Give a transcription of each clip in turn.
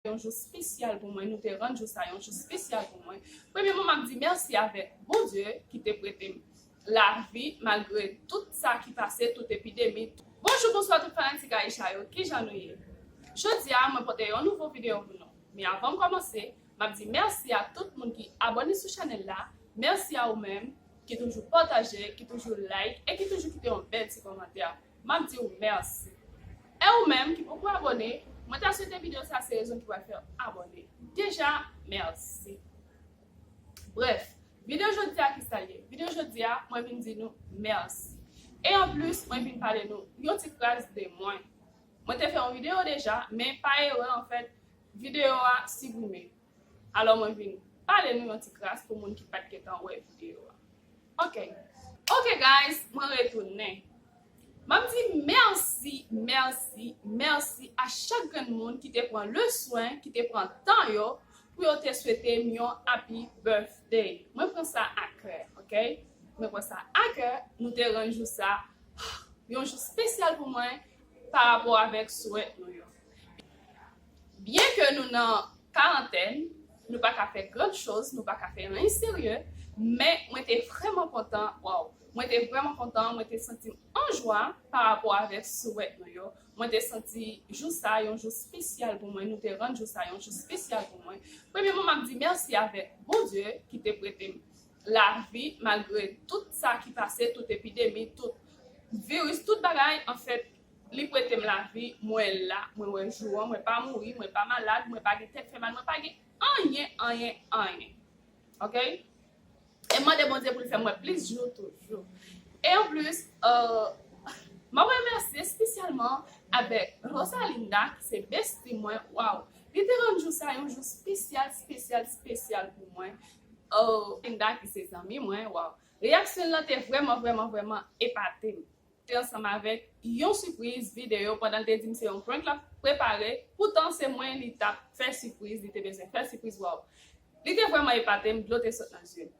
yon jou spesyal pou mwen, nou te rann jou sa yon jou spesyal pou mwen. Premyeman map di mèsi avèk Bondye ki te prete m lavi malgre tout sa ki pase, tout epidemi. Bonjou bonswa tout fanatik Aisha yo kijan nou ye jodia mwen pote yon nouvo video pou nou men avanm komanse map di mèsi a tout moun ki abone sou chanel la mèsi a ou menm ki toujou pataje ki toujou like e ki toujou kite yon bèl ti komantè Map diw merci. E ou menm ki poko abone, mwen ta swete video sa se rezon ki pral fèw abone deja merci. Bref, video jodia kisal ye? Video jodia mwen vin di nou merci. E an plus mwen vin pale nou yon ti fraz de mwen. Mwen te fè yon video deja men pa erè an fèt video a siprime. Alò mwen vin pale nou yon ti kras pou moun ki pat gentan wè video a ok. Ok guys mwen retounen Map di mèsi mèsi mèsi a chak grenn moun ki te pran le swen ki te pran tan yo pou yo te swete m yon happy birthday mwen pran sa a kè ok mwen pran sa a kè nou te rann jou sa yon jou spesyal pou mwen pa rapò avèk swèt nou yo. Byen ke nou nan karantèn, nou pa ka fè grand choz, nou pa ka fè anyen serye, men mwen te vrèman kontan, waww, mwen te vrèman kontan, mwen te santi m an jwa pa rapò avèk souwèt nou yo, mwen te santi jou sa yon jou spesyal pou mwen, nou te rann jou sa yon jou spesyal pou mwen. Premyeman map di mèsi avèk Bondye ki te prete m lavi malgre tout sa ki pase, tout epidemi, tout viris, tout bagay anfèt, Li prete m lavi, mwen la, mwen wè jou an, mwen pa mouri, mwen pa malad, mwen pa gen tèt fè mal, mwen pa gen anyen, anyen, anyen. Ok? E m mande Bondye pou l fè m wè plis jou toujou. E anplis, m ap remèsye espesyalman avèk Rosalinda ki se besti mwen, waww, li te rann jou sa yon jou spesyal, spesyal, spesyal pou mwen. Rosalinda ki se zanmi mwen, waww, reyaksyon l lan te vrèman, vrèman, vrèman epate m. te ansanm avèk yon sipriz videyo pandan l te di m se yon prank l ap prepare poutan se mwen li t ap fè sipriz li te bezwen fè sipriz waww li te vrèman epate m dlo te sot nan zye m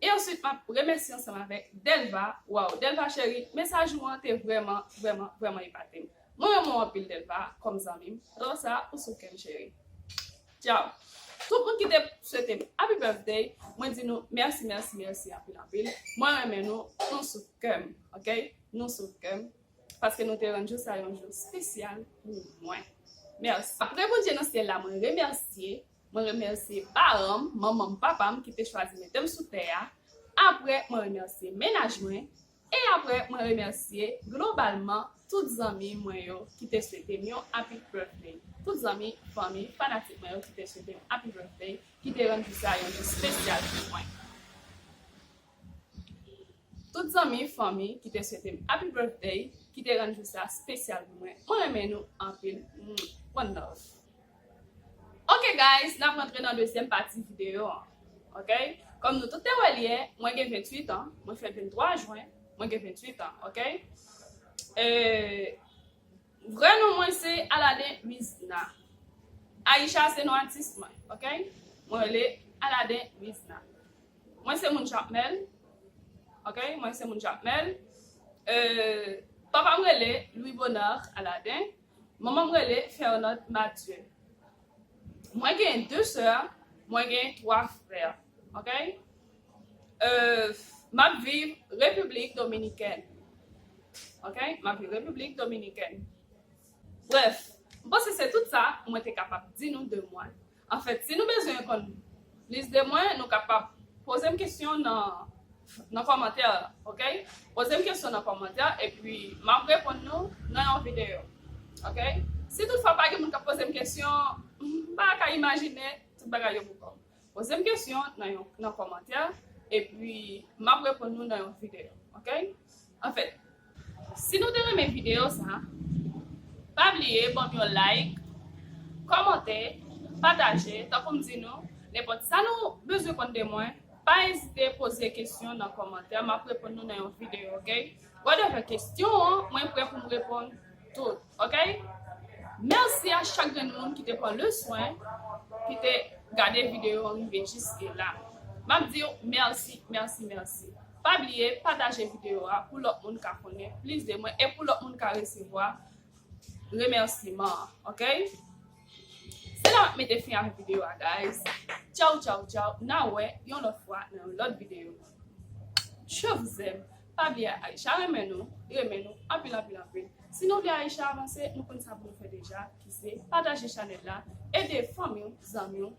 e answit m ap remèsye ansanm avèk Delva waww Delva cheri mesaj ou an te vrèman vrèman vrèman epate m mwen renmen w anpil Delva kòm zanmi m lò sa ou sou kè m cheri. Ciao tout moun ki te swete m happy birthday mwen di nou merci merci merci anpil anpil mwen renmen nou nou sou kèm ok nou sou kèm paske nou te rann jou sa yon jou spesyal pou mwen merci Pâpre Bondye nan syèl la mwen remèsye mwen remèsye paranm manmanm papam ki te chwazi metem sou tè a apre mwen remèsye mennaj mwen E aprè mwen remèsye globalman tout zanmi mwen yo ki te swete m yon Happy Birthday, tout zanmi, fanmi, fanatik mwen yo ki te swete m Happy Birthday, ki te rann jou sa yon jou spesyal pou mwen. Tout zanmi, fanmi, ki te swete m Happy Birthday, ki te rann jou sa spesyal pou mwen. Mwen renmen nou anpil. One love. Ok guys nap rantre nan dezyèm pati video an ok kòm nou tout te wèl yè mwen gen 28 ans mwen fèt 23 juin mwen gen 28 ans ok vrè non mwen se Aladin Rizna Aïcha se non atis mwen ok mwen rele Aladin Rizna mwen se moun jakmèl ok mwen se moun jakmèl papam rele Louis Bonheur Aladin Manman m rele Fernande Mathieu mwen gen 2 sè mwen gen 3 frè ok map viv repiblik dominikèn ok map viv repiblik dominikèn brèf m panse se tout sa mwen te kapab di nou de mwen. Anfèt, si nou bezwen konn plis de mwen, nou kapab poze m kesyon nan kòmantè a ok. Poze m kesyon nan kòmantè epi m ap reponn nou nan yon videyo ok. Si tout fwa pa gen moun k ap poze m kesyon, m pa ka imajine tout bagay yo pou kòm. Poze m kesyon nan kòmantè epi m ap reponn nou nan yon videyo ok. Anfèt si nou te renmen video sa pa bliye banm yon like kòmante pataje tankoum di nou nenpòt sa nou bezwen konn de mwen pa ezite poze kesyon nan kòmantè map reponn nou nan yon video ok whatever kesyon an mwen prè poum reponn tout ok mèsi a chak grenn moun ki te pran le swen ki te gade video an rive jiske la map diw mèsi mèsi mèsi. Pa bliye pataje video a pou lòt moun ka konnen plis de mwen e pou lòt moun ka resevwa remèsiman an ok Se la map mete fin ak video a guys Tchaw tchaw tchaw na wè yon lòt fwa nan yon lòt video Je vous aime Pa bliye Aïcha renmen nou renmen nou anpil anpil anpil Si nou vle Aïcha avanse nou konn sa pou nou fè deja ki se pataje chanèl la ede fanmiw zanmiw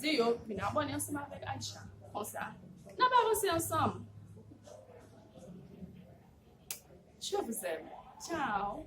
Di yo vin abòne ansanm avèk Aisha. Konsa, n ap avanse ansanm. Je vous aime. Ciao.